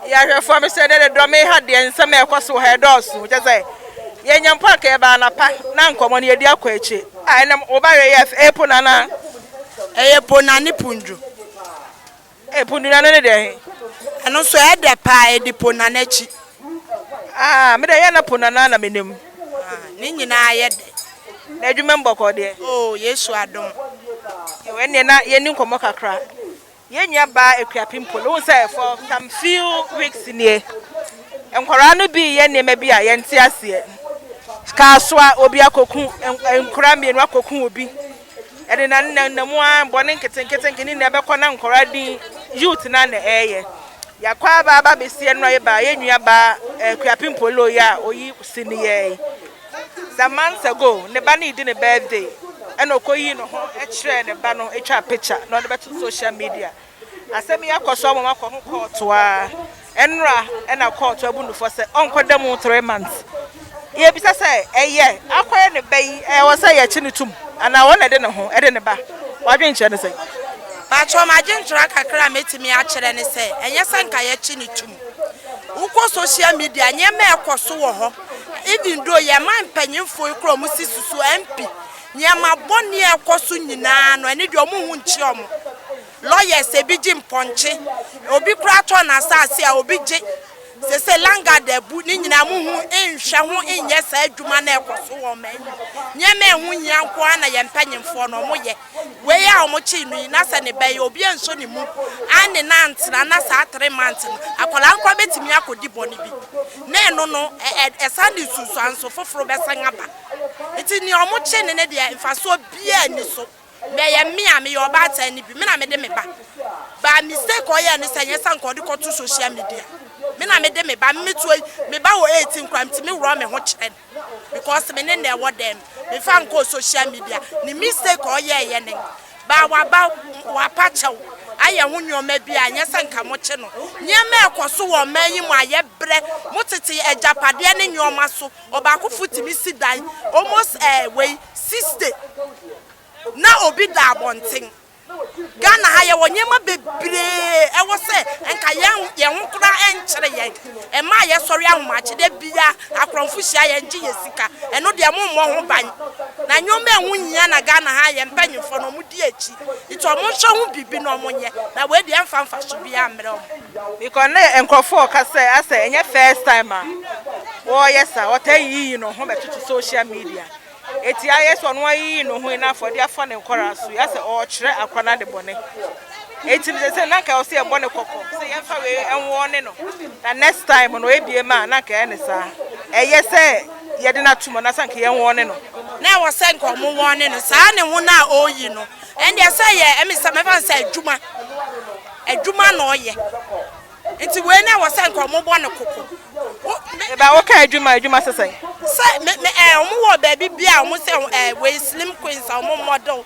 yɛahwɛfoɔ me sɛ dɛ de dɔ me ha deɛ nsɛm a ɛkɔ so wɔ ha ɛdɔɔso kyɛ sɛ yɛnya mpo anka yɛba anapa na nkɔmmɔ no yɛdi akɔ akyi a ɛnam woba wɛ yɛ ɛyɛ pona na ɛyɛ pona ne pundwo ɛ pundwo na no ne deɛ he ɛno nso ɛdɛ paa ɛdi pona no akyi aa me dɛ yɛ na pona no na menim ne nyinaa yɛ dɛ na adwuma mbɔkɔ deɛ o yesu adom ɛwɔ ɛneɛ na yɛni nkɔmmɔ kakra Yɛn nua baa Akuapem pole, wohu sɛ for some few weeks nie, nkwadaa no bi reyɛ nneɛma bi a yɛnte aseɛ. Kaa so a obi akɔku nkwadaa mmienu akɔku obi. Ɛde na nna nna mu ara bɔne nketenkete ne nna ɛbɛkɔ na nkwadaa din youth na na ɛreyɛ. Yɛakɔ aba aba abɛsi ɛno a yɛbaa yɛn nua baa Akuapem pole yi a oyi si ne yɛe. some months ago ne ba no redi ne birthday ɛna ɔkɔyii ne ho kyerɛɛ ne ba no ɛtwaa picture na ɔde bɛto social media asɛm yi akɔ so ama makɔ ho kɔɔto a ɛnora ɛna kɔɔto abu no fɔ sɛ ɔnkɔda mu three months yɛbisa sɛ ɛyɛ akɔyɛ ne ba yi ɛwɔ sɛ yɛkye ne tum anaa wɔn na ɛde ne ho ɛde ne ba wadwenkyerɛ ne sɛ Paatwɔ m'adwenkyerɛ kakra a mɛtumi akyerɛ ne sɛ ɛnyɛ sɛ nka yɛkye ne tum Wokɔ social media nneɛma a ɛkɔ so wɔ hɔ even though yɛn man mpanyinfo yi kora wɔn si susu MP nneɛma bɔne a ɛkɔ so nyinaa no ɛne deɛ wɔn ho nkyia wɔn lawyers ebi gye mpɔnkye obi kora tɔ n'asaase a obi gye sese langard abu ne nyinaa mo ho nhwɛ ho nyɛ saa adwuma na ɛkɔ so wɔ ɔman mu nneɛma ɛho hia nko ara na yɛn mpanyinfoɔ no wɔn yɛ. Wei a wɔkyee no yi, na sɛ ne ba yi, obi ansɔ ne mu anne no antena nna saa three months no, akwadaa no koraa bɛtumi akɔdi bɔne bi. Na ɛno no, ɛsan de nsunsuanso foforo bɛsan aba. Nti nea wɔkyee no no deɛ, mfasoɔ biara nni so. Na ɛyɛ me a meyɛ ɔbaatan no bi, me na mede me ba baa. Mistake a ɔyɛɛ ne sɛ, nyɛ sɛ anka ɔde kɔto social media. Me na mede me ba, me metua yi, me ba wɔ eighteen koraa, metumi worɔ me ho kyerɛ no. Because me ne no ɛwɔ dɛm mefa nkɔɔ social media ne mistake a ɔyɛɛyɛ ne baa waba wapa kyɛw ayɛ ho nneɛma bi a nyɛ sɛ nka mo kye no nneɛma ɛkɔ so wɔ ɔman yi mu a yɛ brɛ mo tete agyapadeɛ ne nneɛma so ɔbaakofo tumi si dan almost ɛɛ wei sixty na obi da abɔnten. Ghana ha yɛwɔ nneɛma bebree ɛwɔ sɛ nka yɛn yɛn ho koraa ɛnkyere yɛn ɛma a yɛsɔre ahomakye da bia akorɔmfo hyia yɛn gye yɛn sika ɛno deɛ mo mmɔ ho ban na nneɛma a ɛho nhia na Ghana ha yɛn mpanyinfoɔ no wɔn di akyi nti wɔn nhwɛ ho biribi na wɔn nyɛ na wei deɛ ɛnfa nfaso biara mmerɛ wɔn. Because ne nkurɔfoɔ ɔka sɛ asɛ ɛnyɛ first time a wɔyɛ saa wɔtaa yiyi no ho bɛtoto social media. Eti ayɛ sɛ ɔno ayiyi ne ho yi n'afɔde afa ne nkwadaa so, yasɛ ɔɔkyerɛ akora no ade bɔne. Eti no sese na nka ɔsɛ yɛbɔ ne kɔkɔ sɛ yɛnfa wei ɛnwɔ ne no, na next time no ebie ma na nka ɛyɛ ne saa. Ɛyɛ sɛ yɛde no ato mu anaasɛ anka yɛnwɔ ne no. Na ɛwɔ sɛ nka ɔmo wɔ ne no, saa ne ho no a ɔɔyi no, ɛndeɛ sɛ yɛ ɛmi sɛ mɛfa no sɛ adwuma, adwuma na ɔɔyɛ. Nti wei na wɔsɛ nka wɔn bɔ no koko. Eba wo ka adwuma adwuma sɛ sɛn. Sɛ me me ɛɛ wɔn wɔ baabi bi a wɔn sɛ ɛɛ wei slim queens a wɔn model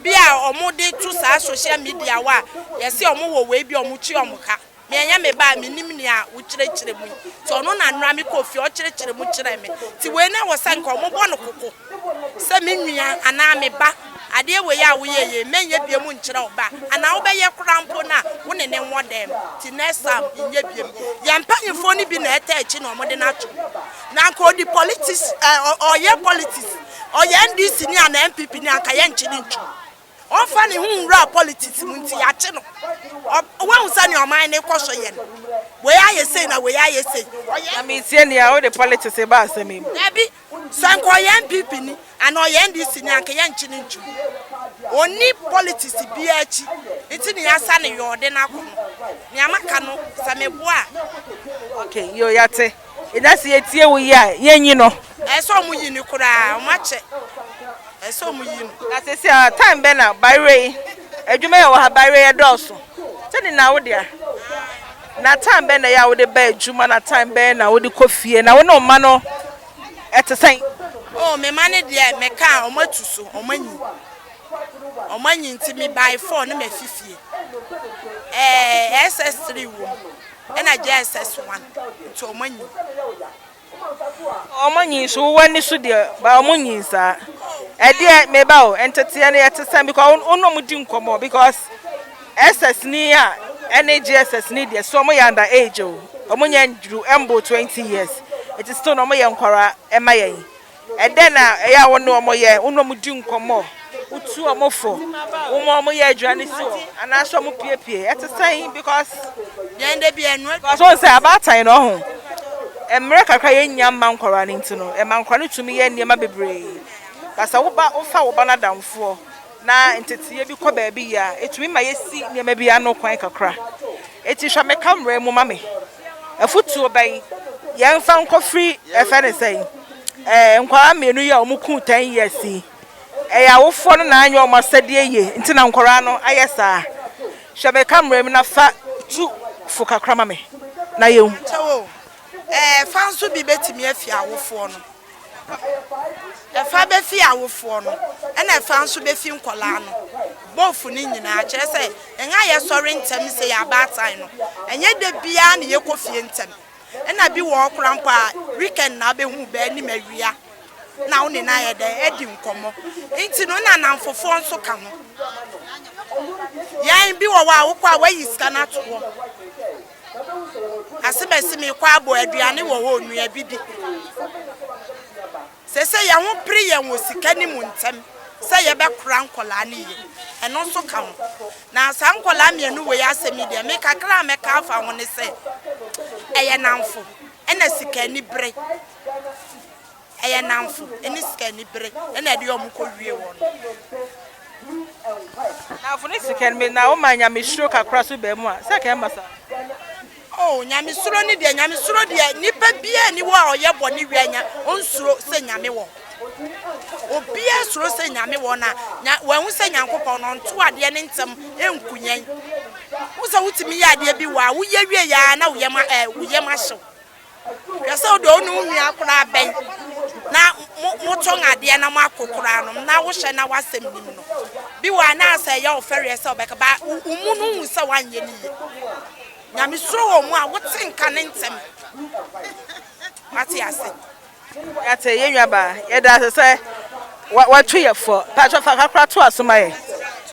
bi a wɔn de to saa social media wa yɛsɛ wɔn wɔ wei bi a wɔn kyi wɔn ka me ɛnyɛ me ba a me nim nea wokyerɛkyerɛ mu yi ti ɔno na nora me kɔ fie ɔkyerɛkyerɛ mu kyerɛ me ti wei na wɔsɛ nka wɔn bɔ no koko. sɛ me nua anaa me ba, adeɛ wei a woyɛeɛ yi, mɛnyɛ biom nkyerɛ wo ba, anaa wobɛyɛ koraa mpo no a, wo ne no nwɔ dɛm, nti next time nyɛ biom. Yɛn mpaninfoɔ no bi na ɛtaa akyi na wɔde no ato mu. Na anka ɔdi politics, ɔyɛ politics, ɔyɛ NDC ni anaa NPP ni a, anka yɛnnkye no ntom. Ɔmfa ne ho nwura politics mu nti yɛakye no. Woahu sɛnea ɔman no rekɔ so yɛ no? Wei ayɛ sei na wei ayɛ sei. Na mentie nea wode politics reba asɛm yi mu. Dabi, sɛ anka ɔyɛ NPP ni anaa ɔyɛ NDC ni a anka yɛnkye no ntom. Ɔnni politics biara akyi nti na yɛasa no yɔɔ de no akɔ no. Nea maka no sɛ meboa a. Okay, yoo yɛate. Eda se yetie wo yie a yenyi no. Ɛyɛ sɛ ɔmo yi no koraa ɔmo akyɛ ɛyɛ sɛ ɔmo yi no. Na sese a time bɛn na bayerɛ yi adwuma yɛ wɔ ha bayerɛ yɛ dɔɔso sɛ ne na wodea na time bɛn na ɛyɛ a wode ba adwuma na time bɛn na wode kɔ fie na wo ne wo mma no ɛte sɛn. Oh me mma no deɛ me ka a ɔmo atu so ɔmo anyi ɔmo anyi nti me by four na mafi fie ɛɛ ss three wɔ mu ɛna JSS one nti ɔmo anyin. Ɔmo anyin so wowɔ ani so deɛ but ɔmo nyin saa ɛdeɛ meba o nteteɛ no yɛte sɛn because wo ne ɔmo di nkɔmɔ because SS ni a ɛne JSS ni deɛ so ɔmo yɛ under age o ɔmo nyɛ nduru ɛmbo twenty years ɛti still na ɔmo yɛ nkwadaa ɛma yɛn Ɛdɛn na ɛyɛ a wo ne wɔn yɛ? Wo ne wɔn di nkɔmmɔ? Wotu wɔn fo? Woma wɔn yɛ aduane si hɔ? Anaasɛ wɔn piepie? Ɛte sɛn? Because yɛn de bi ɛnu. Because wɔn sɛ abaatan no ɔho. Mmerɛ kakra yɛn nya mma nkwadaa no nti no, ɛma nkwadaa no tumi yɛ nneɛma bebree. But sɛ wo ba, wo fa wo ba no adamfoɔ na nteteeɛ bi kɔ baabi yɛ a, ɛtumi ma yɛsi nneɛma bi ano kwan kakra. Ɛti hwɛ me camera mu ma me. Afutuo bɛn yɛn fa nkɔ firi ɛfɛ ne sɛn ɛɛ nkwadaa mmienu yi a wɔn kuu ten years yi ɛyɛ awofoɔ no na anyɛ wɔn asɛdeɛ yie nti na nkwadaa no ayɛ saa hwɛ me camera mu na fa tu fo kakra ma me na yɛn hu. Pakyɛw o, ɛɛ fa nso bi bɛtumi afi awofoɔ no Ɛfa bɛfi awofoɔ no, ɛna ɛfa nso bɛfi nkwadaa no, both no nyinaa. Kyerɛ sɛ, yɛn a yɛsɔre ntɛm sei a abaatan no, ɛnyɛ da biara na yɛkɔ fie ntɛm. Ɛna bi wɔ hɔ koraa mpo a, weekend na wobɛhu wo ba anim awia na wo ne no ayɛ dɛn adi nkɔmmɔ. Nti no, na nnamfofoɔ nso ka ho. Yɛn, bi wɔ hɔ a, wokɔ a, woayi sika no ato hɔ. Asebɛse mekɔ abɔ aduane wɔ hɔ o, nua bi di. Seesei yɛn ho pere yɛn wɔ sika no mu ntɛm sɛ yɛbɛkora nkwadaa no yie. Ɛno nso ka ho. Na saa nkwadaa mmienu wei asɛm yi deɛ, me kakra a mɛka afa ho ne sɛ, ɛyɛ nnamfo ɛna sika anibere. Ɛyɛ nnamfo ne sikanibere na ɛde wɔn kɔ wie wɔn. Nnamfo ne sika ni bere na woma nyamesuro kakra so ba mu a, sɛ ka ɛmma saa. Oh, nyamesuro ne deɛ, nyamesuro deɛ, nipa biara ni hɔ a ɔyɛ bɔne wie a nya, onsuro sɛ Nyame wɔ hɔ. Obiara suro sɛ Nyame wɔ hɔ na nya, wahu sɛ Nyankopɔn no, ɔnto adeɛ ne ntɛm nku yɛn. Wohu sɛ wotumi yɛ adeɛ bi wɔ a, woyɛ wie yɛ ara na wo yam, eh, wo yam ahye wo. Hwɛ sɛ wode ɔne wo nua koraa bɛn na motɔn adeɛ na moako koraa no na wohyɛ na w'asɛm nim no. Bi wɔ a na sɛ ɛyɛ wo fɛreɛ sɛ wobɛka ba wo mu no wohu sɛ woanyɛ no yie. Nyame suro wɔ mu a wote nka ne ntɛm. Wate ase? Yɛate yɛn nuabaa, yɛda ase sɛ wato yɛn fɔ. Paatwa fa kakra to aso ma yɛn.